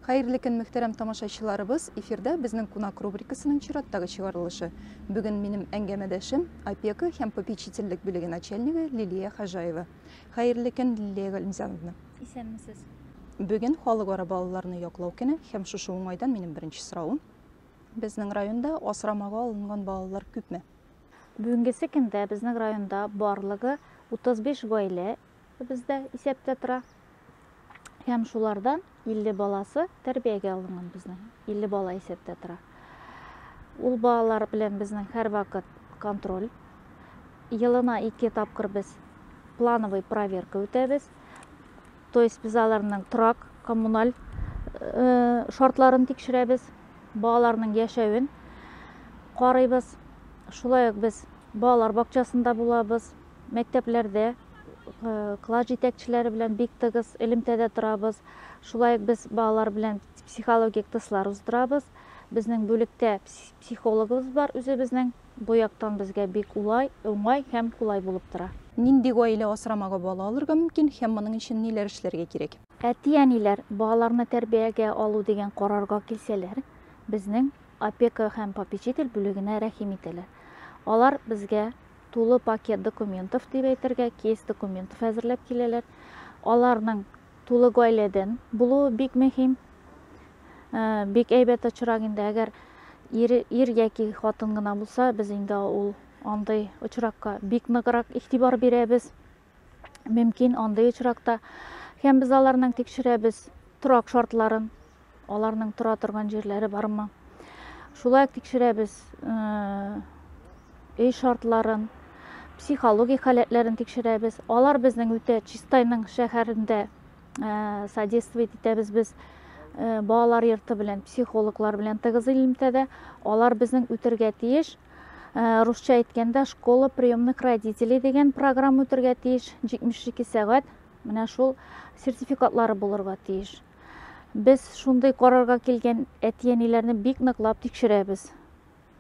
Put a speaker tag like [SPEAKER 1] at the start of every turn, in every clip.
[SPEAKER 1] Хәерле көн, мөхтәрәм тамашачыларыбыз! Эфирдә безнең кунак рубрикасының чираттагы чыгарылышы. Бүген минем әңгәмәдәшем опека һәм попечительлек бүлеге начальнигы Лилия Хажаева. Хәерле көн, Лилия Галимзановна! Исәнмесез!
[SPEAKER 2] Бүген
[SPEAKER 1] халыкара балаларны яклау көне һәм шушы уңайдан минем беренче сорауым. Безнең районда асрамага алынган балалар күпме? Бүгенгесе
[SPEAKER 2] көндә безнең районда барлыгы 35 гаилә бездә исәптә тора. Һәм шулардан 50 баласы тәрбиягә алынган безнең. 50 бала исәптә тора. Ул балалар белән безнең һәрвакыт контроль. Елына ике тапкыр без плановый проверка үтәбез. То есть без аларның торак, коммуналь э, шартларын тикшерәбез, балаларның яшәвен карыйбыз. Шулай ук без балалар бакчасында булабыз, мәктәпләрдә э, класс җитәкчеләре белән бик тыгыз элемтәдә торабыз. Шулай ук без балалар белән психологик тестлар уздырабыз. Безнең бүлектә психологыбыз бар үзебезнең. Бу яктан безгә бик улай, уңай һәм кулай булып тора. Нинди гаилә
[SPEAKER 1] асрамагы бала алырга мөмкин һәм моның өчен ниләр эшләргә кирәк? Әти-әниләр
[SPEAKER 2] балаларны тәрбиягә алу дигән карарга килсәләр, безнең Опека һәм попечитель бүлегенә рәхим итәләр. Алар безгә тулы пакет документов, дип әйтергә, кейс документов әзерләп киләләр. Аларның тулы гаиләдән булуы бик мөһим. Бик әйбәт очрак инде, әгәр ир, ир яки хатын гына булса, без инде ул андый очракка бик ныграк игътибар бирәбез. Мөмкин, андый очракта һәм без аларның тикшерәбез торак шартларын, аларның тора торган җирләре бармы шулай ук тикшерәбез өй шартларын психологик халәтләрен тикшерәбез алар безнең үтә чистайның шәһәрендә содействовать итәбез без балалар йорты белән психологлар белән тыгыз элемтәдә алар безнең үтергә тиеш русча әйткәндә школа приемных родителей дигән программа үтергә тиеш 72 сәгать менә шул сертификатлары булырга тиеш Без шундый карарга килгән әти-әниләрне бик ныклап тикшерәбез.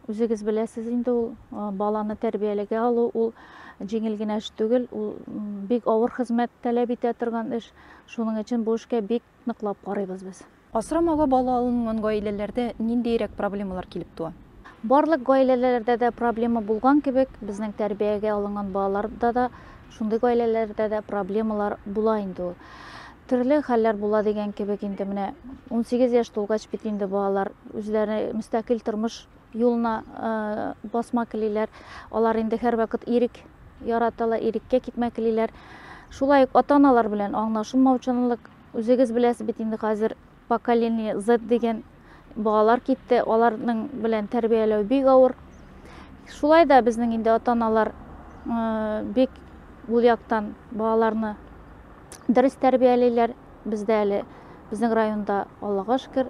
[SPEAKER 2] Үзегез беләсез инде ул баланы тәрбиялегә алу ул җиңел генә эш түгел, ул бик авыр хезмәт таләп итә торган эш. Шуның өчен бу эшкә бик ныклап карыйбыз без. Асрамага бала
[SPEAKER 1] алынган гаиләләрдә ниндиерәк проблемалар килеп туа? Барлык
[SPEAKER 2] гаиләләрдә дә проблема булган кебек, безнең тәрбиягә алынган балаларда да Шундый гаиләләрдә дә проблемалар була инде ул. Төрле хәлләр була дигән кебек инде менә 18 яшь тулгач бит инде балалар үзләре мөстәкыйль тормыш юлына басма келиләр. Алар инде һәрвакыт ирек яраталар, иреккә китмә келиләр. Шулай ук ата-аналар белән аңлашылмаучанлык, үзегез беләсез бит инде хәзер Поколение Z дигән балалар китте, аларның белән тәрбияләү бик авыр. Шулай да безнең инде ата-аналар бик ул яктан балаларны дөрес тәрбиялиләр. Бездә әле безнең районда Аллага шөкер,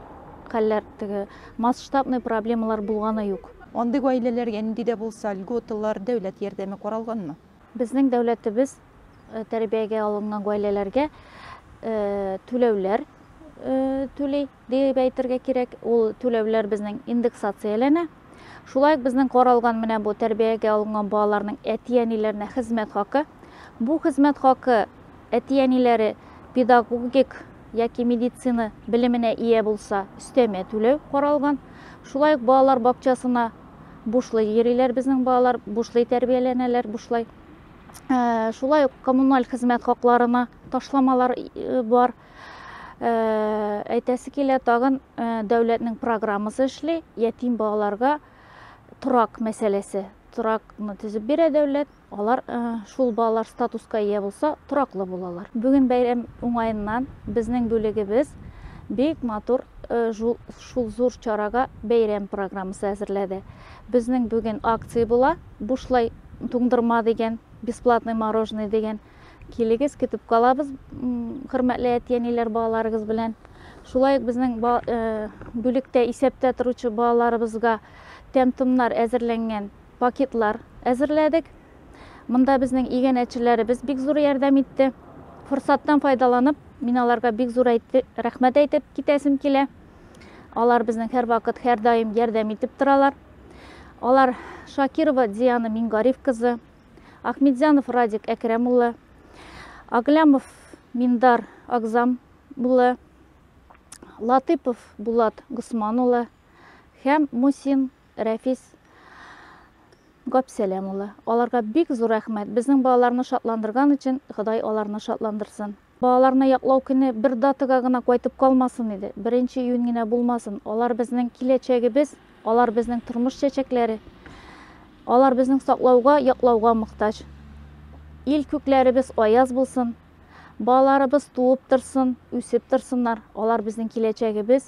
[SPEAKER 2] хәлләр теге масштабный проблемалар булганы юк. Андый гаиләләргә
[SPEAKER 1] нинди дә булса льготалар, дәүләт ярдәме каралганмы? Безнең дәүләтебез
[SPEAKER 2] тәрбиягә алынган гаиләләргә түләүләр түли дип әйтергә кирәк. Ул түләүләр безнең индексацияләнә. Шулай ук безнең каралган менә бу тәрбиягә алынган балаларның әти-әниләренә хезмәт хакы. Бу хезмәт хакы әти-әниләре педагогик яки медицина белеменә ия булса, өстәмә түләү каралган. Шулай ук балалар бакчасына бушлай йөриләр безнең балалар, бушлай тәрбияләнәләр, бушлай. Ә, шулай ук коммуналь хезмәт хакларына ташламалар э, бар. Ә, әйтәсе килә, тагын э, дәүләтнең программасы эшли, ятим балаларга торак мәсьәләсе. Торакны төзеп бирә дәүләт. Алар шул балалар статуска ия булса, тораклы булалар. Бүген бәйрәм уңаеннан безнең бүлегебез бик матур шул зур чарага бәйрәм программасы әзерләде. Безнең бүген акция була, бушлай туңдырма дигән, бесплатный мороженое дигән. Килегез, көтеп калабыз, хөрмәтле әти-әниләр балаларыгыз белән. Шулай ук безнең бүлектә исәптә торучы балаларыбызга тәм-томнар әзерләнгән. пакетлар әзерләдек. Монда безнең иганәчеләребез бик зур ярдәм итте. Форсаттан файдаланып, мин аларга бик зур әйтте, рәхмәт әйтеп китәсем килә. Алар безнең һәрвакыт, һәрдаим ярдәм итеп торалар. Алар Шакирова Диана Мингариф кызы, Ахмедзянов Радик Әкрәм улы, Аглямов Миндар Агзам улы, Латыпов Булат Госман улы һәм Мусин Рәфис Габсәләм улы. Аларга бик зур рәхмәт. Безнең балаларны шатландырган өчен Ходай аларны шатландырсын. Балаларны яклау көне бер датага гына кайтып калмасын иде, беренче июнь генә булмасын. Алар безнең киләчәгебез, алар безнең тормыш чәчәкләре. Алар безнең саклауга, яклауга мохтаҗ. Ил күкләребез аяз булсын. Балаларыбыз туып торсын, үсеп торсыннар. Алар безнең киләчәгебез.